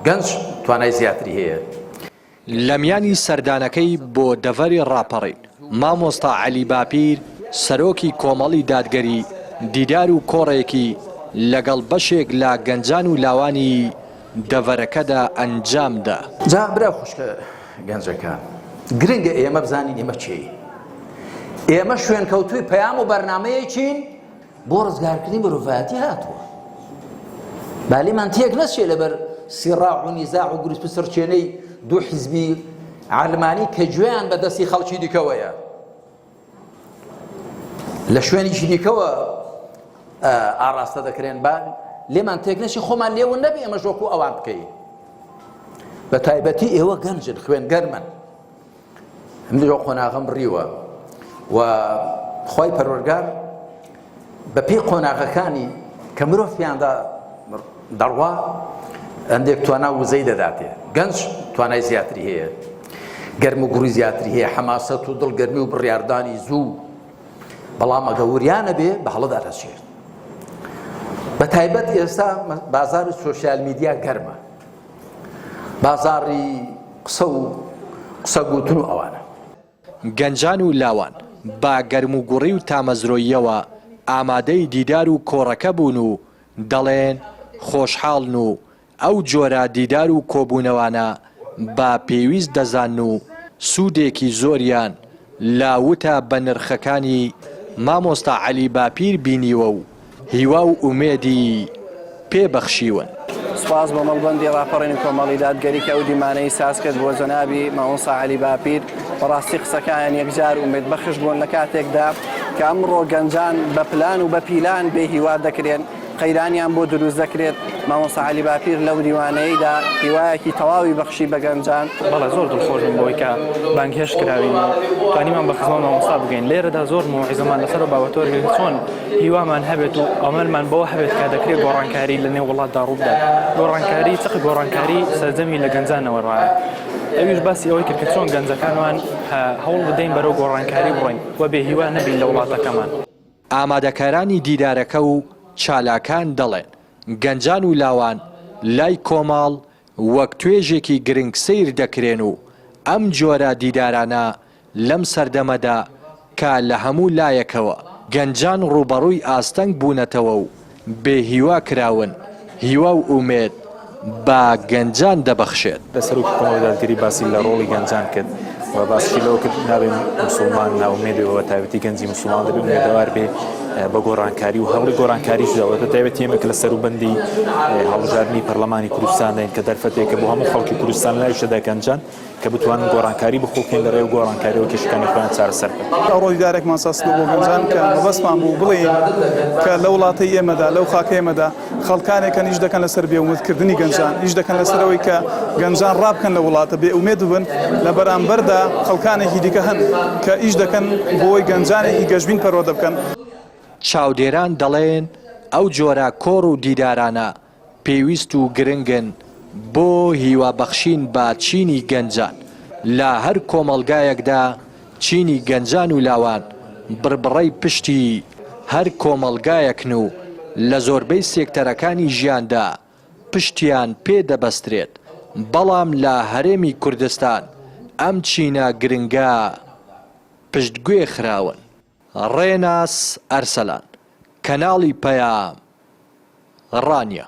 گەنج توانای زیاتری هەیە. لەمیانی سەردانەکەی بۆ دەڤەری ڕاپەڕین، مامۆستا عەلی باپیر، سەرۆکی کۆمەڵی دادگەری، دیدار و کۆڕێکی لەگەڵ بەشێک لە گەنجان و لاوانی دەڤەرەکەدا ئەنجامدا. جا برا خوشکە گەنجەکان، گرنگە ئێمە بزانین ئێمە کێین؟ ئێمە شوێنکەوتووی پەیام و بەرنامەیەکین بۆ ڕزگارکردنی مرۆڤایەتی هاتووە با لێمان تێک نەچێ لەبەر سیڕاع و نیزاع و گروپ و سڕچێنەی دوو حیزبی عەلمانی کە گوێیان بە دەستی خەڵکی دیکەوەیە لە شوێنیشی دیکەوە ئاڕاستە دەکرێن با لێمان تێک نەچی خۆمان لێون نەبێ ئەمە ژۆکو ئەوان بکەین بە تایبەتی ئێوە گەنجن خوێن گەرمن من لەو قۆناغەم بڕیوە و خی پەروەگار بە پێی قۆناغەکانی کە مرۆڤ پێیاندا دەڕوا هەندێک توانا وزەی دەداتێ گەنج توانای زیاتری هەیە گەرم و گوڕی زیاتری هەیە حەماسەت و دڵگەرمی و بڕاردانی زوو بەڵام ئەگە وریانە بێ بە هەڵدا دەچێت بە تایبەت ئێستا بازار و سوۆسیال میدیا گەرمە بازاڕی قسە و قسە گوتن و ئەوانە. گەنجان و لاوان بە گەرموگوڕی و تامەزرۆییەوە ئامادەی دیدار و کۆڕەکە بوون و دەڵێن خۆشحاڵن و ئەو جۆرە دیدار و کۆبوونەوانە بە پێویست دەزانن و سوودێکی زۆریان لە وتە بەنرخەکانی مامۆستا عەلی باپیر بینیوە و هیوا و ئومێدی پێ بەخشیون. سوپاس بۆ مەڵبەندی ڕاپەڕین کۆمەڵی دادگەری کە ئەو دیمانەی ساز کرد بۆ جەنابی مامۆستا عەلی باپیر، بەڕاستی قسەکانیان یەکجار ئومێد بەخش بوون لە کاتێکدا کە ئەمڕۆ گەنجان بە پلان و بە پیلان بێ هیوا دەکرێن قەیرانیان بۆ دروست دەکرێت، مامۆستا عەلی باپیر لەو دیوانەیدا هیوایەکی تەواوی بەخشی بە گەنجان. بەڵێ زۆر دڵخۆش بووین بەوەی کە بانگهێشت کراوین و توانیمان بە خزمەت مامۆستا بگەین، لێرەدا زۆر موعیزەمان لەسەر ئەو بابەتەوە کرد کە چۆن، هیوامان هەبێت و ئەمەلمان بەوە هەبێت کە دەکرێت گۆڕانکاری لە نێو وڵاتدا ڕووبدات گۆڕانکاری چق گۆڕانکاری سەرجەمی لە گەنجانەوە ڕایە ئەویش باسی ئەوەی کرد کە چۆن گەنجەکانمان هەوڵ بدەین بەرەو گۆڕانکاری بڕۆین و بێ هیوا نەبین لە وڵاتەکەمان. ئامادەکارانی دیدارەکە و چالاکان دەڵێن، گەنجان و لاوان لای کۆمەڵ وەک توێژێکی گرنگ سەیر دەکرێن و ئەم جۆرە دیدارانە لەم سەردەمەدا کە لە هەموو لایەکەوە گەنجان ڕووبەڕووی ئاستەنگ بوونەتەوە و بێ هیوا کراون، هیوا و ئومێد بە گەنجان دەبەخشێت. سەرۆکی کۆمەڵی دادگەری باسی لە ڕۆڵی گەنجان کرد و باسیشی لەوە کرد، نابێ موسڵمان نائومێد بێ و بە تایبەتی گەنجی موسڵمان دەبێ ئومێدەوار بێ بە گۆڕانکاری و هەوڵی گۆڕانکاریش دا و بە تایبەتی ئێمە کە لە سەروبەندی هەڵبژاردنی پەرلەمانی کوردستانداین کە دەرفەتێکە بۆ هەموو خەڵکی کوردستان لەناویشدا گەنجان کە بتوانن گۆڕانکاری بخوڵقێن لەڕێی گۆڕانکاریەوە کێشەکانی خۆیان چارەسەر بکەن. ڕۆژگارێکمان ساز کرد بۆ گەنجان کە مەبەستمان بوو بڵێین کە لە وڵاتەی ئێمەدا، لەو خاکەی ئێمەدا خەڵکانێک هەن ئیش دەکەن لەسەر بێ ئومێدکردنی گەنجان، ئیش دەکەن لەسەر ئەوەی کە گەنجان ڕابکەن لە وڵاتە، بێ ئومێد ببن، لە بەرامبەردا خەڵکانێکی دیکە هەن کە ئیش دەکەن بۆی گەنجانێکی گەشبین پەروەردە بکەن. چاودێران دەڵێن ئەو جۆرە کۆڕ و دیدارانە پێویست و گرنگن بۆ هیوا بەخشین بە چینی گەنجان، لە هەر کۆمەڵگایەکدا چینی گەنجان و لاوان بڕبڕەی پشتی هەر کۆمەڵگایەکن و لە زۆربەی سێکتەرەکانی ژیاندا پشتیان پێ دەبەسترێت، بەڵام لە هەرێمی کوردستان ئەم چینە گرنگە پشتگوێ خراون. ڕێناس ئەرسەلان، کەناڵی پەیام ڕانیە.